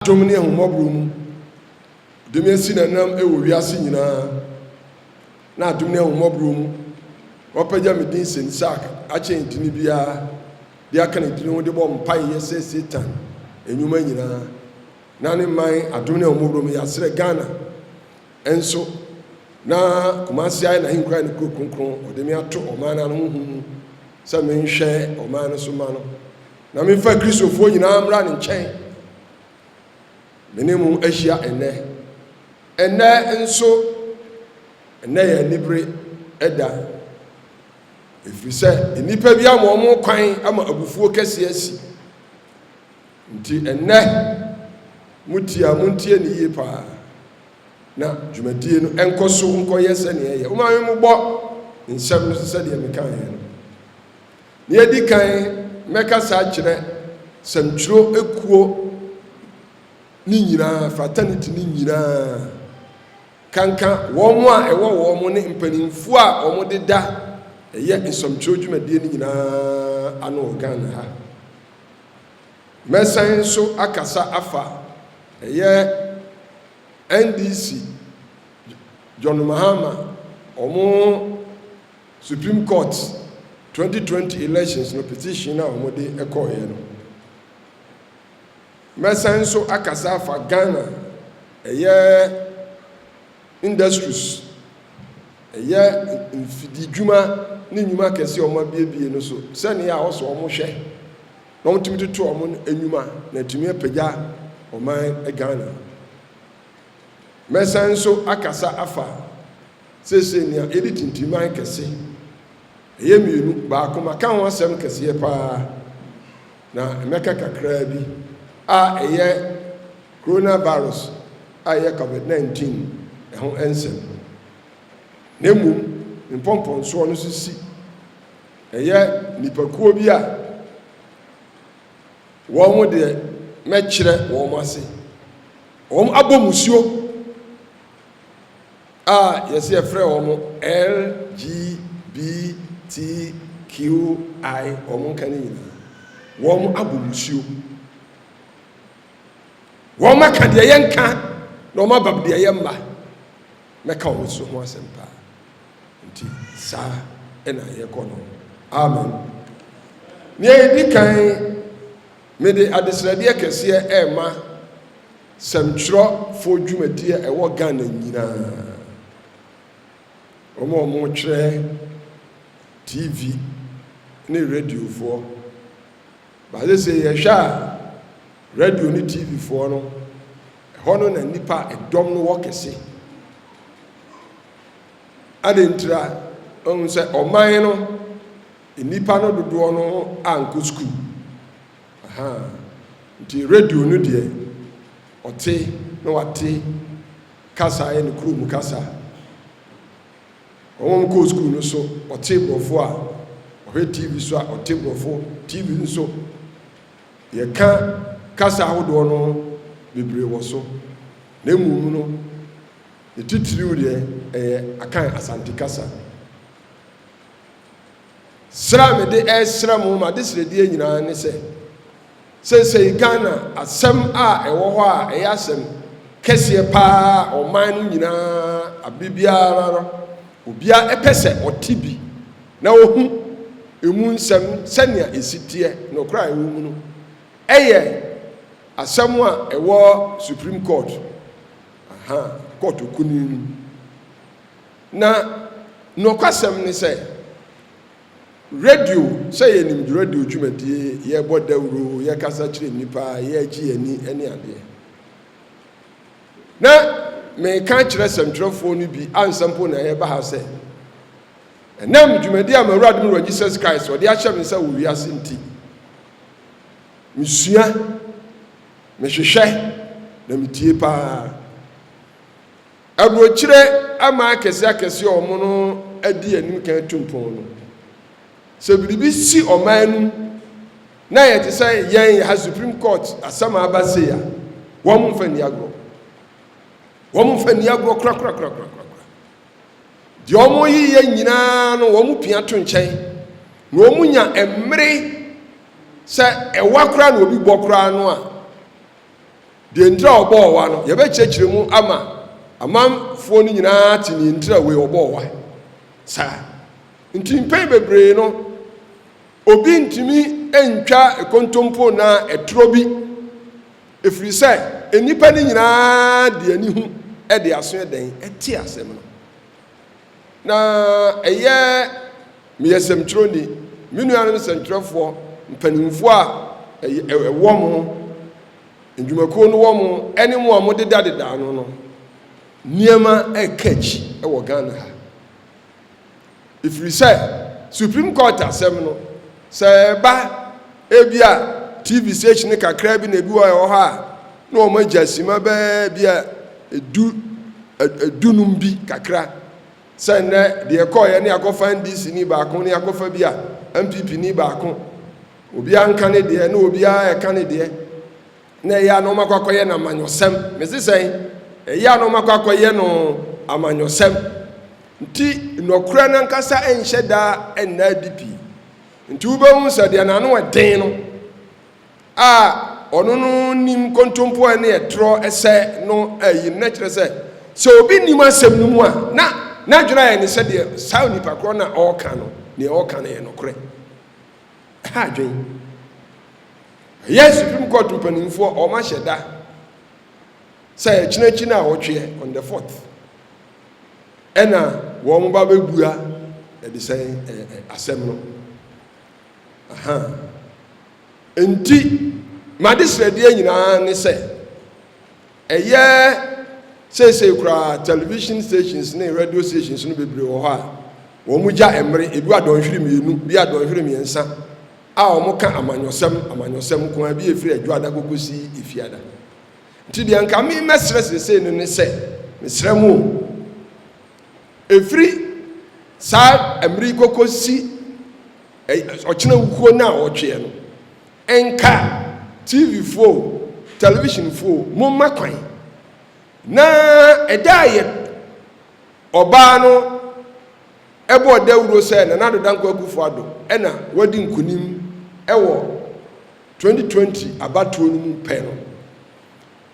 adom ne ahummɔborɔ mu de me asi n'anam wɔ wiase nyinaa, n'adom ne ahummɔborɔ mu wapagya me din sen Isak akyɛn edini biara de aka ne din ho de bɔ mpaeɛ sɛ Satan nnwuma nyinaa na ne man adom ne ahummɔborɔ mu yɛasrɛ Ghana nso na Kumasi ayɛ n'ahenkura ne kuro kronkron wɔde me ato ɔman no ano honhom mu sɛ menhwɛ ɔman no so ma no Na memfa Kristofoɔ nyinaa mmra ne nkyɛn. Me ne mo ahyia nnɛ. Ɛnnɛ nso, ɛnnɛ yɛ anibere da, ɛfiri sɛ nnipa bi ama wɔn kwan ama abufuo kɛseɛ asi. Nti ɛnnɛ, motie a, montie no yie paa, na dwumadie no nkɔ so nkɔyɛ sɛdeɛ ɛyɛ. Momma me mmobɔ nsɛm no so sɛdeɛ mekaeɛ no. Nea edi kan, mɛkasa akyerɛ sɛmtwerɛ akuo no nyinaa, fraternity no nyinaa, kanka wɔn a ɛwɔ wɔn ne mpanimfoɔ a wɔde da ɛyɛ nsɛmtwerɛ dwumadie no nyinaa ano wɔ Ghana ha. Mɛsan nso akasa afa ɛyɛ NDC, John Mahama, wɔn Supreme Court twenty twenty elections no petition a wɔde kɔeɛ no. Mɛsan nso akasa afa Ghana ɛyɛ industries, ɛyɛ mfididwuma ne nnwuma akɛseɛ a wɔabiebie no so sɛnea a wɔsɛ wɔhwɛ na wɔtumi toto wɔn nnwuma na atumi apagya ɔman Ghana. Mɛsan nso akasa afa Seesei nea yɛde tintiman kɛse, ɛyɛ mmienu, baako maka ho asɛm kɛseɛ pa ara, na mɛka kakraa bi, a ɛyɛ Coronavirus a ɛyɛ Covid 19 ɛho nsɛm no. Na mmom me mpɔmpɔnsoɔ no nso si, ɛyɛ nnipakuo bi a wɔn deɛ mɛkyerɛ wɔn ase, wɔn abɔ mmusuo. A yɛse yɛfrɛ wɔn LGBTQI wɔn nka no nyinaa. Wɔn abɔ musuo. Wɔn aka deɛ yɛ nka na wɔn abab deɛ yɛ mma. Mɛka wɔn so ho asɛm paa. Nti saa ɛna yɛkɔ no. Amen. Nea ɛdi kan, mede adesrɛdeɛ kɛseɛ ɛrema Sɛmtwerɛfoɔ dwumadie a ɛwɔ Ghana nyinaa, wɔn a wɔretwerɛ, TV ne radiofoɔ. But seesei yɛhwɛ a, radio ne TV foɔ no, ɛhɔ no na nnipa a ɛdɔm no wɔ kɛse. Adɛn ntira? Ɔhu sɛ ɔman no, nnipa no dodoɔ no ankɔ sukuu. Ahaa nti radio no deɛ ɔte na wate kasa ayɛ ne kurom kasa. Wɔn a wɔkɔɔ sukuu no so ɔte borɔfo a ɔhwɛ TV so a ɔte borɔfo TV no so. Yɛka kasa ahodoɔ no bebree wɔ so na mmom no ne titiriw deɛ ɛyɛ Akan Asante kasa. Srɛ a mede resrɛ mo m'adesrɛdeɛ nyinaa ne sɛ, seesei Ghana asɛm a ɛwɔ hɔ a ɛyɛ asɛm kɛseɛ pa ara ɔman no nyinaa aberɛ biara no, obiara pɛ sɛ ɔte bi na ɔhu ɛmu nsɛm sɛnea ɛsi teɛ, nokorɛ a ɛwɔ mu no. Ɛyɛ asɛm a ɛwɔ Supreme Court, aha, Court Kunini no mu. Na nokwasɛm ne sɛ, radio, sɛ yɛnim radio dwumadie, yɛbɔ dawuro, yɛkasa kyerɛ nnipa, yɛgye yɛn ani ne adeɛ. Na meka akyerɛ sɛmtwerɛfoɔ no bi ansa mpo na yɛreba ha sɛ, ɛnam dwumadie a m'Awurade me Wura Jesus Christ ɔde ahyɛ me nsa wɔ wiase nti, mesua, mehwehwɛ, na metie paa. Aburokyire ama akɛseɛ akɛseɛ a wɔn adi anim kan atu mpɔn no. Sɛ biribi si ɔman no mu na ayɛ te sɛ yɛn yɛ ha Supreme Court asɛm a aba sei a, wɔn mfa nni agorɔ. Wɔn mfa nni agorɔ korakorakorakorakora. Deɛ wɔn reyeyɛ nyinaa no wɔn pia to nkyɛn na wɔn nya mmere sɛ ɛwa koraa na obi bɔ koraa no a, Deɛ nti a ɔbɔɔ wa no, yɛbɛkyerɛkyerɛ mu ama amanfoɔ no nyinaa ate deɛ nti a wei ɔbɔɔ wa saa. Nti mpɛn bebree no, obi ntumi ntwa kontompo anaa ɛtorɔ bi, ɛfiri sɛ nnipa no nyinaa de anihu de aso dɛn? Te asɛm no. Na ɛyɛ me asɛmtwerɛni, me nuanom sɛntwerɛfoɔ mpanimfoɔ a ɛwɔ mo nnwumakuo no wɔ mo ne mo a modedadeda ano no nneɛma reka akyi wɔ Ghana ha. Ɛfiri sɛ Supreme Court asɛm no, Sɛ ɛba, ebia TV station kakraa bi na ebi wɔ a ɛwɔ hɔ a, na wɔagya simma bɛyɛ ebia du, dunum bi kakra. Sɛ nnɛ deɛ ɛkɔeɛ ne akɔfa NDC-ni baako ne akɔfa bi a, NPP-ni baako. Obiara nka ne deɛ na obiara reka ne deɛ. Na ɛyɛ a na wɔakɔ akɔyɛ no amanyɔsɛm. Mese sɛn? Ɛyɛ a na wɔakɔ akɔyɛ no amanyɔsɛm. Nti nɔkorɛ no ankasa nhyɛ da nna adi pii. Nti wobɛhu sɛ deɛ n'ano ɛden no a ɔno no nim kontompoɛ ne ɛtorɔ ɛsɛ no ayi no, na kyerɛ sɛ sɛ obi nim asɛm no mu a na n'adwene ayɛ ne sɛ deɛ saa onipa korɔ no a ɔreka no, deɛ ɔreka no yɛ nɔkorɛ. ha adwen ɛyɛ supreme court mpanimfoɔ wɔn ahyɛ da sɛ ɛkyinakyi no a wɔtweɛ on the fourth ɛna wɔn ba bɛbua ɛde sɛ asɛm no aha nti made srɛdeɛ nyinaa ne sɛ Ɛyɛ seesei koraa television stations ne radio stations no bebree wɔ hɔ a wɔgya mmere, ebi wɔ adɔnhwere mmienu, bi adɔnhwere mmiɛnsa, a wɔka amanyɔsɛm, amanyɔsɛm nko ara, bi a ɛfiri Adwoada kɔkɔsi Efiada. Nti deɛ nka me mɛsrɛ seesei no ne sɛ, mesrɛ mo o, ɛfiri saa mmere yi kɔkɔsi ɔkyena wukuo nnaawɔtweɛ no, Nka, TV-foɔ o, television-foɔ o, momma kwan na ɛda a yɛn ɔbaa no bɔɔ dawuro sɛ Nana Addo Dankwa Akufo-Addo na wadi nkunim wɔ 2020 abatoɔ no mu pɛ no,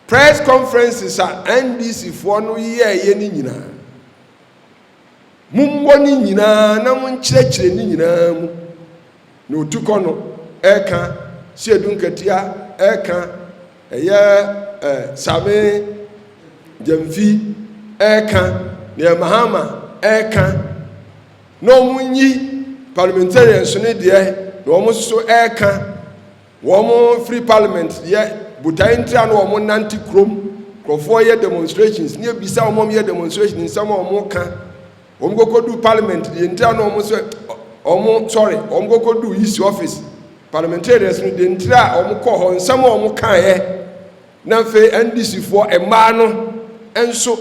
press conferences a NDC-foɔ no yɛeɛ no nyinaa, Mommɔ ne nyinaa na monkyerɛkyerɛ ne nyinaa mu. Na otukɔ no, ɛka, seadunkatia, ɛka, ɛyɛ ɛ, same, gyamfi, ɛka, neɛ Mahama, ɛka, na wɔnyi parliamentarians no deɛ, na wɔn nso so ɛka. Wɔn firi parliament deɛ botaeɛ ntira no wɔn nante kurom nkurɔfoɔ yɛ demonstrations ne ebisa wɔn wɔn yɛ demonstration nsɛm a wɔn ka wɔn kɔkɔ du parliament deɛ ntira no wɔn sɛ wɔn sorry wɔn kɔkɔ du isi office parliamentarians no deɛ ntira a wɔn kɔ hɔ nsɛm a wɔn kaeɛ. Na afei NDCfoɔ mmaa no nso,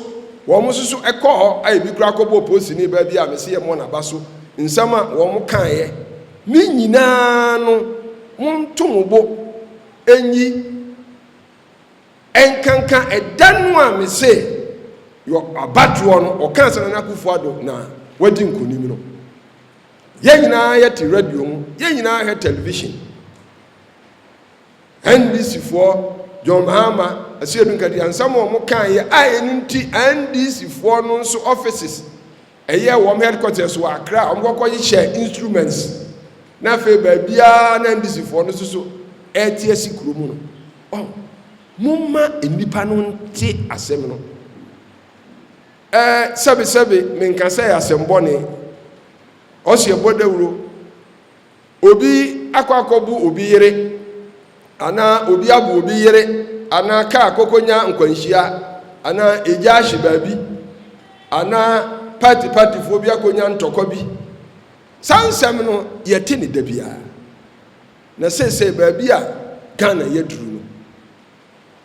wɔn nso so kɔɔ hɔ a ebi koraa kɔbɔɔ polisini baa bi a mese yɛmmɔ n'aba so, nsɛm a wɔn kaeɛ ne nyinaa no monto mo bo nyi nkanka ɛda no a mese yɔ abatoɔ no ɔkaa sɛ Nana Akufo-Addo na wadi nkonim no. Yɛn nyinaa yɛte radio mu, yɛn nyinaa hwɛ television. NDCfoɔ John Mahama, Asiedu Nkadiah nsɛm a wɔn kaeɛ a ɛno nti NDCfoɔ no nso offices ɛyɛ wɔn headquarters wɔ Accra a wɔkɔkɔ hyehyɛ instruments na afei baabiara na NDCfoɔ no soso ɛrete asi kuro mu no. Ɔ momma nnipa no nte asɛm no. Ɛɛ sɛbesɛbe menka sɛ yɛ asɛm bɔne. Ɔsi ɛbɔ dawuro Obi akɔ akɔbu obi yere, anaa obi abu obi yere, anaa kaa kɔkɔnya nkwanhyia, anaa egya ahye baabi, anaa partypartyfoɔ bi akɔnya ntɔkwa bi. Saa nsɛm no, yɛte no da biara. Na seesei baabi a Ghana yɛaduru no,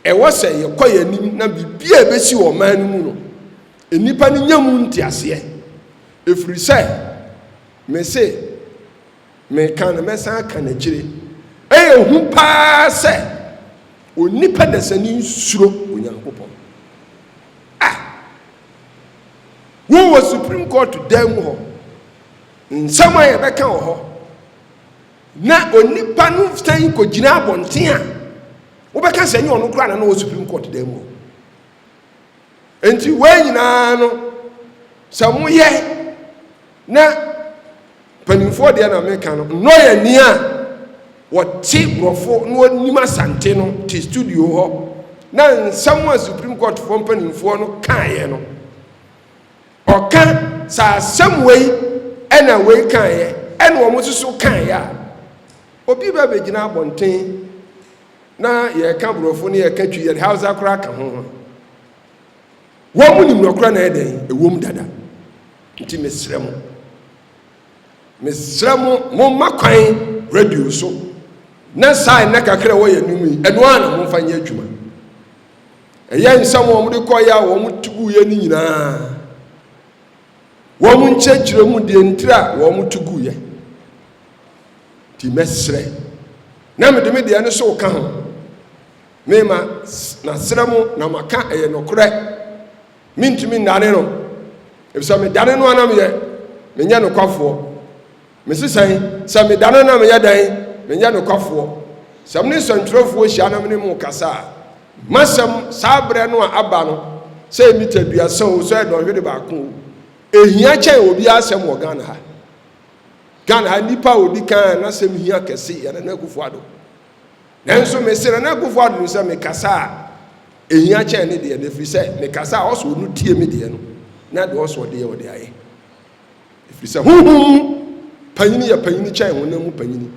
Ɛwɔ sɛ yɛkɔ yɛn anim na biribi a ɛbɛsi wɔ ɔman no mu no, nnipa no nya mu nteaseɛ. Ɛfiri sɛ, mese, meka na mɛsan aka no akyire, ɛyɛ hu pa ara sɛ onipa dasani nsuro Onyankopɔn. A Wowɔ Supreme Court dan mu hɔ. Nsɛm a yɛbɛka wɔ hɔ. Na onipa no san kɔgyina abɔnten a, wobɛka sɛ ɛnyɛ ɔno koraa na na ɔwɔ Supreme Court dan mu. Enti wei nyinaa no, sɛ moyɛ na mpanimfoɔ deɛ na meka no, nnɔ yɛ ni a wɔte borɔfo na wɔnim asante no te studio hɔ na nsɛm a Supreme Courtfoɔ mpanimfoɔ no kaeɛ no, Ɔka saa asɛm wei ɛna wei kaeɛ ɛna wɔn nso so kaeɛ a obi bɛ bɛgyina abɔnten na yɛka borɔfo ne yɛka twi yɛde hausa koraa ka ho ho wɔn mu nim nɔkora na ɛdɛn ɛwom dada nti mesrɛ mo mesrɛ mo momma kwan radio so na saa ɛnɛ kakra wɔyɛ no mu yi ɛno a na momfa nyɛ adwuma Ɛyɛ nsɛm a wɔde kɔeɛ a wɔte guiɛ no nyinaa. Wɔn nkyerɛkyerɛ mu deɛ ntira a wɔte guiɛ. Nti mɛsrɛ na mede me deɛ no so ka ho. Mema masrɛ mo na maka ɛyɛ nokorɛ. Mentumi nnane no, ɛfisɛ medane no a na meyɛ menyɛ nokwafoɔ. Mese sɛn? Sɛ meda no na meyɛ dɛn? Menyɛ nokwafoɔ. Sɛ me ne nsɛntwerɛfoɔ hyia na me ne mo kasa a, m'asɛm saa berɛ no a aba no, sɛ ɛyɛ mita aduasa o, sɛ ɔyɛ dɔnhwere baako o, ɛhia kyɛn obiara asɛm wɔ Ghana ha. Ghana ha nipa a ɔdi kan a n'asɛm hia kɛse yɛ Nana Akufo-Addo. Nanso mese Nana Akufo-Addo no sɛ mekasa a, ɛhia kyɛn ne deɛ no, ɛfiri sɛ mekasa a ɔsɔ ɔno tie me deɛ no, na deɛ ɔsɔ deɛ ɔde ayɛ. ɛfiri sɛ honhom mu panyini yɛ panyini kyɛn honam mu panyini.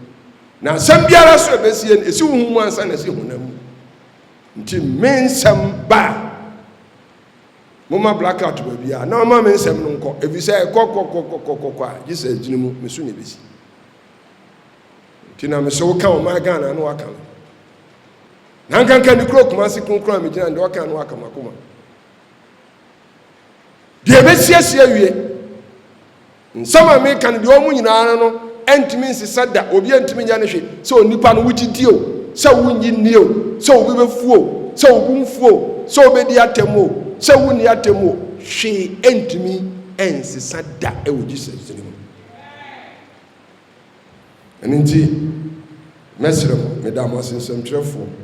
Na nsɛm biara so ɛbɛsie no, ɛsi honhom mu ansa na ɛsi honam mu. Nti me nsɛm ba a, moma blackout baabi a na ɔma me nsɛm no nkɔ, ɛfiri sɛ ɛkɔkɔkɔkɔkɔkɔ a gye sɛ agyini mu me so na ɛbɛsi. Nti na mesɛ woka wo maa Ghana no waka no. Na nkanka ne kuro Kumasi kronkron a megyina no deɛ ɔka no waka makoma. Deɛ mɛsiesie awie. Nsɛm a meka no, deɛ ɔmo nyinaa ara no ntumi nsesa da, obi antumi nyɛ no hwe, sɛ onipa no wogye di o, sɛ wonnye nni o, sɛ obi bɛfu o, sɛ wo bo mfu o, sɛ wobɛdi atɛm o, sɛ wonni atɛm o, hwee ntumi nsesa da wɔ Jesus din mu. Ɛno nti, mɛsrɛ mo, meda mo ase nsɛmtwerɛfoɔ,